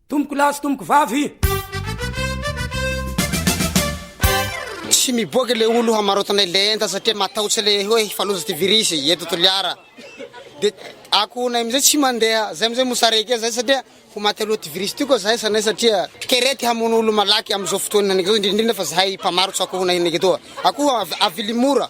Tompoko lahy sy tompoko vavy. Tsy miboaka le olo hamarotanay le enta satria matahotra le hoe hifaloza ty virus eto Toliara. De akonay amizay tsy mandeha, zay amizay mosary ake zay satria ho maty aloha ty virus ty koa zahay sanay satria kere ty hamono olo malaky amizao fotoana anake zao indrindra indrindra fa zahay mpamarotra akohonay anake toa. Akoho avily mora.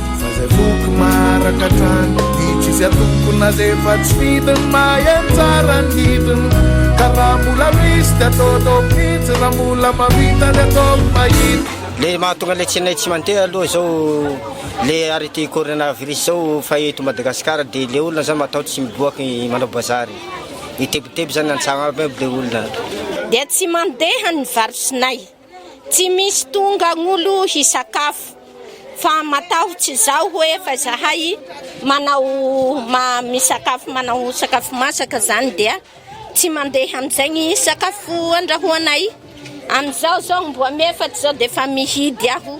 Fa zay foko maraka hatrany Ny tsisy atoko na zay efa tsy fidiny Mahay anjara ny hidiny Ka raha mbola misy dia atao atao mihitsy Raha mbola mahavita dia atao ny mahita Le mahatonga le tsinay tsy mandeha aloha zao le arrêté coronavirus zao fa eto Madagascar de le olona zany matahotra tsy miboaka manao bazary mitebiteby zany antsagno aby aby le olona dia tsy mandeha ny varosinay. Tsy misy tonga agn'olo hisakafo fa matahotsy izao hoe fa zahay manao ma- misakafo manao sakafo masaka zany dia tsy mandeha amin'izegny sakafo andrahoanay, amizao zao mbo am efatry zao defa mihidy aho.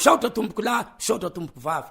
Misaotra tompokolahy, misaotra tompoko vavy.